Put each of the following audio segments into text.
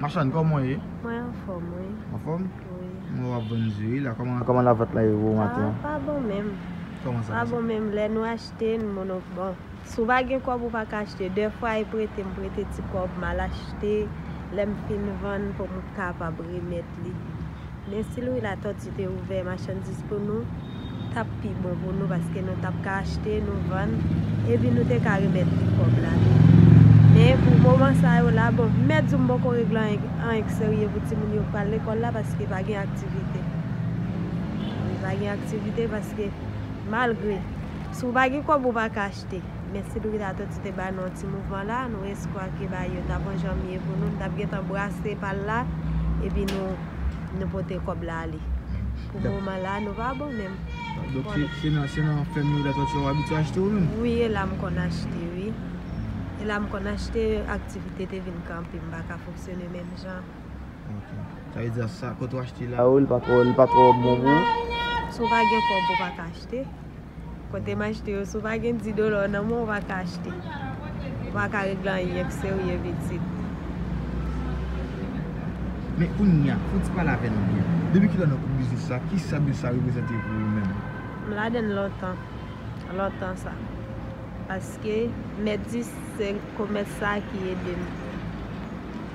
Machann kòman w ye? Mwen anfòm wi. Anfòm? Wi. Mwen wè w ap vann di wi la. Kòman lavant la ye pou maten an? Pa bon menm. Kòman sa? Pa bon menm. Lè nou achte, nou monop bon. Si w pa gen kòb ou pa ka achte. Dèfwa e prete m prete ti kòb m al achte. Lè m fin vann pou m kapab remèt li. Men si Louis Latortue te ouvè machandiz pou nou, tap pi bon pou nou paske nou tap ka achte, nou vann, epi nou te ka remèt li kòb la tou. Men pou moman sa yo la, bon, mèt zo m poko regle anyen k serye pou timoun yo k pral lekòl la paske pa gen aktivite. Wi, pa gen aktivite paske malgre, si w pa gen kòb ou pa ka achte. men si Brita to ti te bay nou yon ti mouvman la nou eskwa ke bay yo ta pran janm ye pou nou nou tap gentan brase pal la epi nou nou pote kob la ale pou moman la nou pa bon menm Donk se nan se nan fèm yo la to ti wap abitye achte ou menm? Wi e la m konn achte wi e la m konn achte aktivite te vin kanpe m paka fonksyone menm jan Ok sa vle di a sa kote w achte la yo li pa twò li pa twò bon pou ou? Si w pa gen kob ou paka achte. achte. Kote m achte yo, si w pa gen 10 dola nan men w, ou pa ka achte. Ou pa ka regle anyen k serye pitit. Men kounye a, fò n ti pale avè nou byen. Depi ki lè w nan kout biznis sa, ki sa biznis sa reprezante pou ou menm? M ladan l lontan. Lontan sa. Paske, mèt 10, se komès sa ki ede m.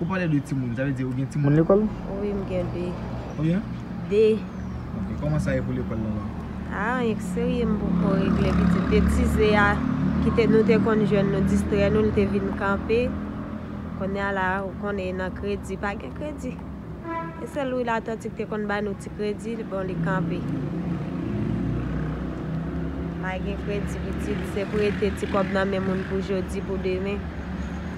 Ou pale de timoun, sa vle di ou gen timoun lekòl? Wi m gen 2. Konbyen? 2. Ok, kòman sa ye pou lekòl la la? A, anyen k serye m poko regle pitit. Betize a ki te nou te konn jwenn nou distrè nou l te vin kanpe. Kounye a la ou konnen e nan kredi, pa gen kredi. E sèl lwil atantik te konn bay nou ti kredi, bon li kanpe. Pa gen kredi pitit, se prete ti kòb nan men moun pou jodi, pou demen.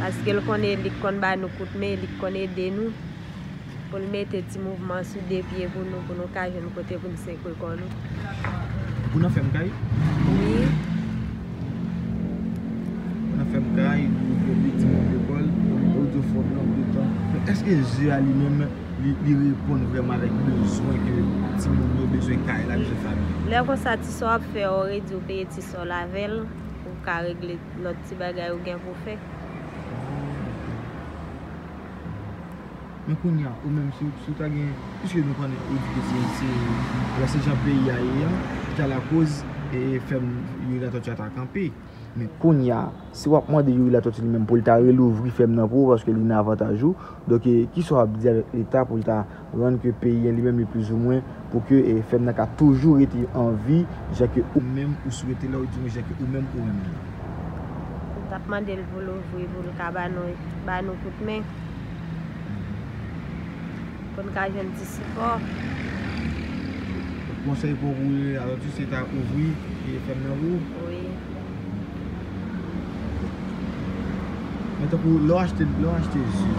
Paske l konn eli k konn ba nou kout men li k konn ede nou pou l mete ti mouvman sou de pye pou nou pou nou ka jwenn kote pou n sekwe kò nou. Ou nan fèm kay? Wi. Ou nan fèm kay, ou fè de ti mouvman de kò l, ou di w fò pran w de tan. Men eske ze a li menm li reponn vrèman avèk bezwen ke ti moun yo bezwen kay la, bezwen fanmi yo? Lè konsa ti sa w ap fè a ou redi ou peye ti sa w avè l. Ou ka regle lòt ti bagay ou gen pou fè. Men kounye a, ou menm, si ou ta gen, piske nou konnen ou di ke se, se, alò se jan peyi a ye an ki ta lakoz fèm Youri Latortue a ta kanpe. Men kounye a, si w ap mande Youri Latortue li menm pou l ta relouvri fèm nan pou ou paske li nan avantaj ou, donk ki sa w ap di avèk leta pou l ta Rann ke peyi an li menm li plizoumwen pou ke fèm nan ka toujou rete an vi jan ke ou menm ou swete la oudimwen jan ke ou menm ou renmen la. Nou tap mande l pou l ouvri pou l ka ba nou ba nou kout men pou n ka jwenn ti sipò. Konsèy pou ou pou Aloti se ta ouvri fèm nan pou ou? Wi. Men tankou lè w achte lè w achte ji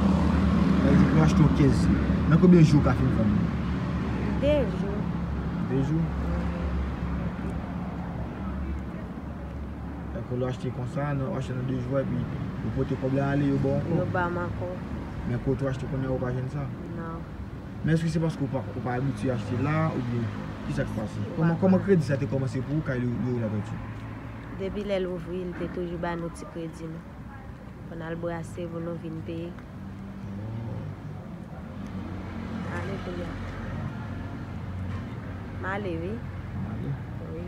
pa egzanp lè w achte yon kès ji nan konbyen jou ou ka fin vann li? 2 jou 2 jou? Tankou lè w achte konsa nan ou achte nan 2 jou epi ou pote kòb la ale yo ba w ankò? Yo ba m ankò Men kote ou achte kounye a ou pa jwenn sa? Nan. Men eske se paske ou pa abitye achte la oubyen kisa ki pase? Kòman kredi sa te kòmanse pou ou kay Leroy Latortue? Depi lè l ouvri li te toujou ba nou ti kredi nou pou n al brase pou nou vin peye. M ale kounye a. M ale wi. M ale? Wi.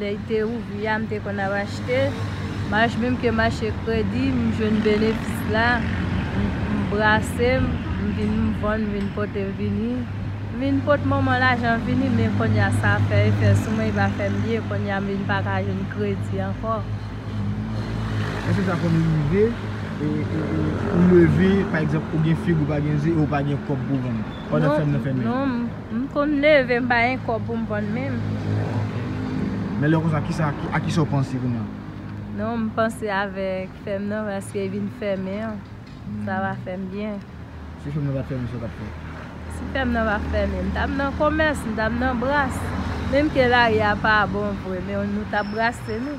Lè y te ouvri a, m te konn ap achte. Mach menm ke mache kredi, m jwenn benefis la. M brase, m vin m vann, m vin pote vini. M vin pot manman lajan vini, men kounye a sa fè efè sou mwen, li pa fè m byen. Kounye a m vin pa ka jwenn kredi ankò. Èske sa konn rive ou leve, pa egzanp, ou gen fig ou pa gen ze e ou pa gen kòb pou w vann pandan fèm nan fèmen an? Non. M konn leve m pa gen kòb pou m vann menm. Men lè konsa kisa a kisa w panse kounye a? Non m panse avèk fèm nan paske li vin fèmen an sa va fèm byen. Si fèm nan pat fèmen sa w tap fè? Si fèm nan pat fèmen m tap nan komès m tap nan bras menm ke lari a pa bon vre men nou tap brase nou.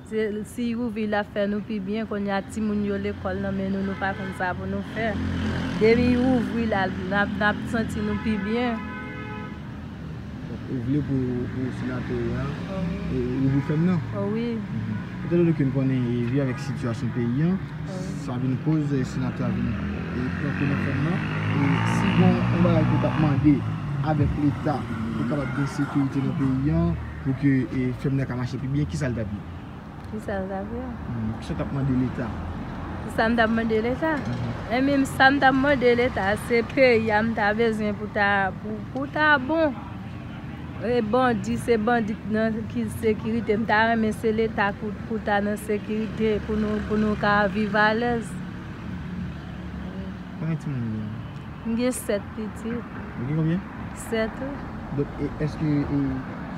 Se si youvi la fè nou pi byen konnya timoun yo lekòl nan men nou nou pa konn sa pou nou fè depi you ouvri la nap santi nou pi byen. Ou vle pou ou senate ya ou vle fèm nan? O wi. Etan done ke nou konnen vi avèk sitiyasyon peyi an sa vin koz senate a vin pran kou nan fèm nan e si gon yon bagay ke ou tap mande avèk leta pou kapab gen sekirite nan peyi an. Pou ke fèm nan ka mache pi byen, kisa l tap ye? Kisa l tap ye? Kisa w tap mande leta? Kisa m tap mande leta? Enbyen m sa m tap mande leta se peyi a m ta bezwen pou ta pou ta bon. E bandi se bandi nan ki sekirite m ta renmen se leta pou ta nan sekirite pou nou pou nou ka viv alèz. Konbyen timoun ou gen? M gen 7 pitit. Ou gen konbyen? 7 wi. Donk eske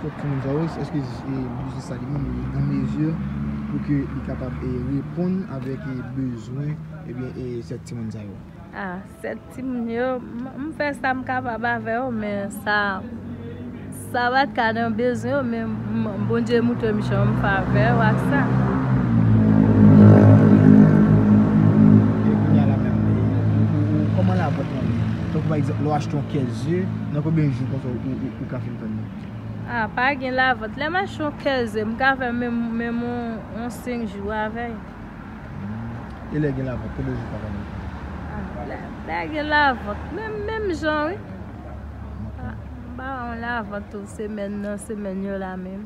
fok timoun sa yo, eske biznis sa li menm li an mezi pou ke li kapab reponn avèk bezwen ebyen 7 timoun sa yo? A 7 timoun yo, m fè sa m kapab avè yo men sa sa pat ka nan bezwen yo men Bondye montre m jan m favè yo ak sa. Tankou pa egzanp, lè w achte yon kès ze, nan konbyen jou konsa ou ka fin vann li? A, pa gen lavant. Lè m achte yon kès ze, m ka fè menm yon 5 jou avè l. E lè gen lavant, konbyen jou ou ka vann li? Lè a gen lavant, menm jan wi. M pa wè yon lavant tou semèn nan semèn yo la menm.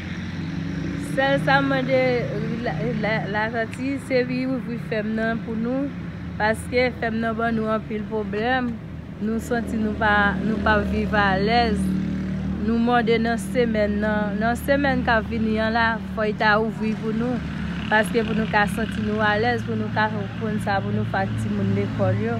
Sèl sa m mande Lajanti se li ouvri fèm nan pou nou paske fèm nan ban nou anpil pwoblèm nou santi nou pa nou pa viv alèz nou mande nan semèn nan nan semèn kap vini an la fò li ta ouvri pou nou paske pou nou ka santi nou alèz pou nou ka konn sa pou nou fè ak timoun lekòl yo.